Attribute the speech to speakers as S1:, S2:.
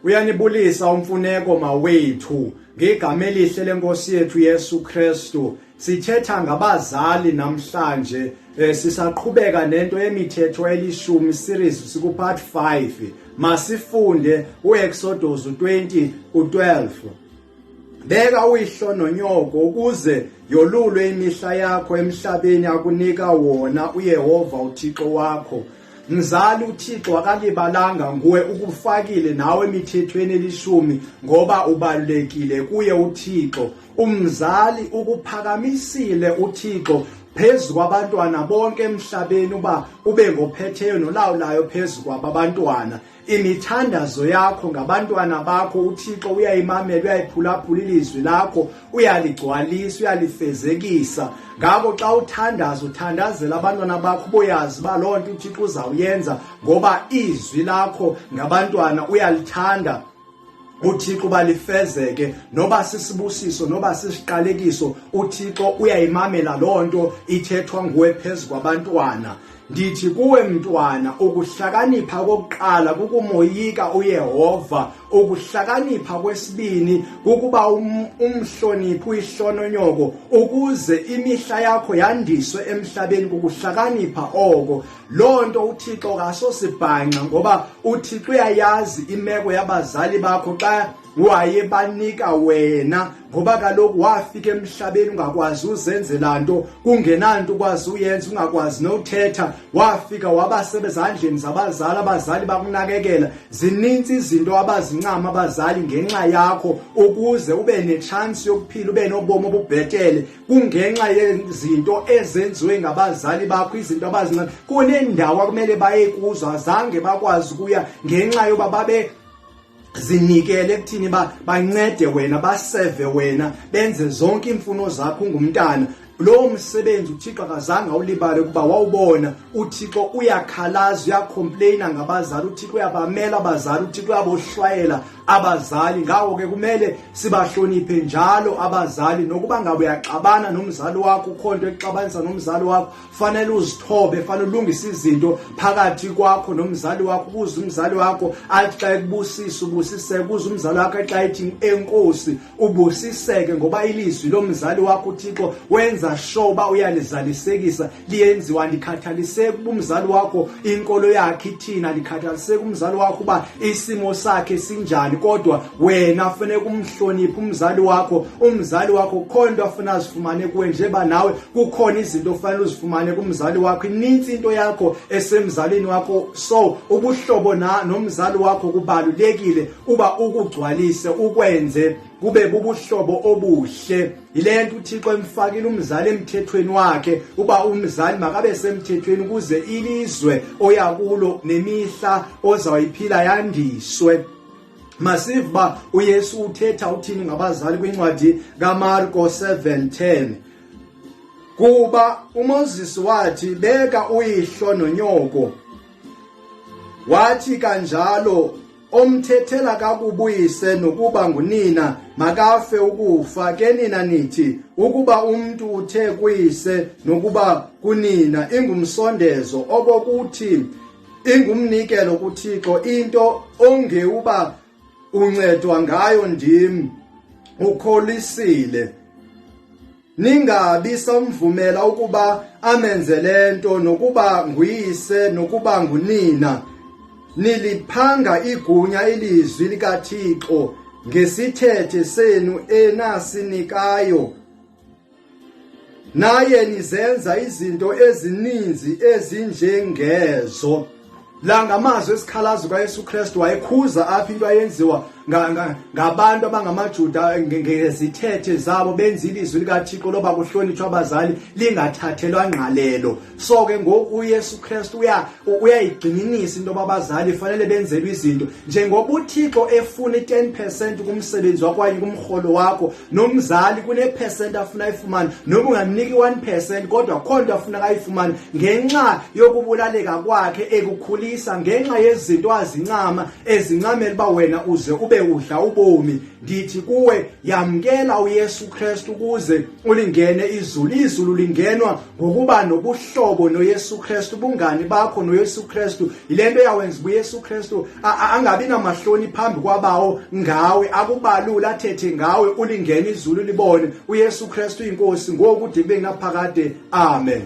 S1: uyanibulisa umfuneko mawethu ngegama elihle lenkosi yethu yesu kristu sithetha ngabazali namhlanje um sisaqhubeka nento yemithetho elishumi series sikupart 5 masifunde uexodos 20 ku-12 beka uyihlo nonyoko ukuze yolulwe imihla yakho emhlabeni akunika wona uyehova uthixo wakho mzali uthixo akalibalanga nguwe ukufakile nawe emithethweni elishumi ngoba ubalulekile kuye uthixo umzali ukuphakamisile uthixo phezu kwabantwana bonke emhlabeni uba ube ngophetheyo nolawulayo phezu kwababantwana imithandazo yakho ngabantwana bakho uthixo uyayimamela uyayiphulaphula ilizwi lakho uyaligcwalisa uyalifezekisa ngako xa uthandaza uthandazela abantwana bakho uboyazi uba loo nto uthixo uzawuyenza ngoba izwi lakho ngabantwana uyalithanda uthixo uba lifezeke noba sisibusiso noba sisiqalekiso uthixo uyayimamela loo nto ithethwa nguwe phezu kwabantwana ndithi kuwe mntwana ukuhlakanipha kokuqala kukumoyika uyehova ukuhlakanipha kwesibini kukuba um, umhloniphi uyihlononyoko ukuze imihla yakho yandiswe emhlabeni kukuhlakanipha oko loo nto uthixo kasosibhanxa ngoba uthixo uyayazi imeko yabazali bakho xa wayebanika wena ngoba kaloku wafika emhlabeni ungakwazi uzenzela nto kungenanto ukwazi uyenza ungakwazi nothetha wafika wabasebezandleni zabazali abazali bakunakekela zininzi izinto abazincama abazali ngenxa yakho ukuze ube netshansi yokuphila ube nobomi obubhetele kungenxa yezinto ezenziwe ngabazali bakho izinto abazincane kunendawo akumele baye kuzo azange bakwazi ukuya ngenxa yoba babe zinikele ekuthini ba bancede wena baseve wena benze zonke iimfuno zakho ungumntana lowo msebenzi uthixo akazange awulibale ukuba wawubona uthixo uyakhalaza uyacomplaina ngabazali uthixo uyabamela abazali uthixo uyabohlwayela abazali ngako ke kumele sibahloniphe njalo abazali nokuba ngabe uyaxabana nomzali wakho ukho nto exabanisa nomzali wakho fanele uzithobe fanele ulungise izinto phakathi kwakho nomzali wakho ukuze umzali wakho athi xa ekubusisa ubusiseke ukuze umzali wakho xa ethi enkosi ubusiseke ngoba ilizwi lomzali wakho uthixo wenza sure uba uyalizalisekisa liyenziwa ndikhathaliseki uba umzali wakho inkolo yakhe ithina ndikhathaliseki umzali wakho uba isimo sakhe sinjani kodwa wena funeka umhloniphe umzali wakho umzali wakho kukhona into afuna azifumane kuwe njeba nawe kukhona izinto ofanele uzifumane kumzali wakho inintsi into yakho esemzalini wakho so ubuhlobo na nomzali wakho kubalulekile uba ukugcwalise ukwenze kube bubuhlobo obuhle yile nto uthixo emfakile umzali emthethweni wakhe uba umzali makabe semthethweni ukuze ilizwe oya kulo nemihla ozawuyiphila yandiswe masive uba uyesu uthetha uthini ngabazali kwincwadi kamarko 710 kuba umoses wathi beka uyihlo nonyoko wathi kanjalo omthethela kakubuyise nokuba ngunina makafe ukufa ke nina nithi ukuba umntu uthe kuyise nokuba kunina ingumsondezo okokuthi ingumnikelo kuThixo into ongewuba uncedwa ngayo ndim ukholisile Ningabi samvumela ukuba amenze lento nokuba nguyise nokuba ngunina. Niliphanga igunya ilizwi likaThixo ngesithethe senu enasinikayo. Naye nizenza izinto ezininzi ezinjengezo. la ngamazwi esikhalazo kayesu kristu wayekhuza apho into ayenziwa ngabantu abangamajuda ngezithethe zabo benza ilizwi likathixo loba kuhlonitshwa abazali lingathathelwa ngqalelo so ke ngoku uyesu kristu uyayigxininisa into yoba abazali fanele benzelwe izinto njengoba uthixo efuna i-10 percent kumsebenzi wakwanye kumrholo wakho nomzali kunephesenti afuna ayifumane noma ungamniki 1 percent kodwa kukho nto afuna kayifumane ngenxa yokubulaleka kwakhe ekukhulisa ngenxa yezinto azincama ezincamela uba wena uze ube udla ubomi ndithi kuwe yamkela uyesu kristu ukuze ulingene izulu izulu lingenwa ngokuba nobuhlobo noYesu Kristu ubungani bakho noYesu Kristu yilento yawenza uYesu Kristu angabi namahloni phambi kwabawo ngawe akubalule athethe ngawe ulingena izulu libone uYesu Kristu inkosi ngoku dibe naphakade amen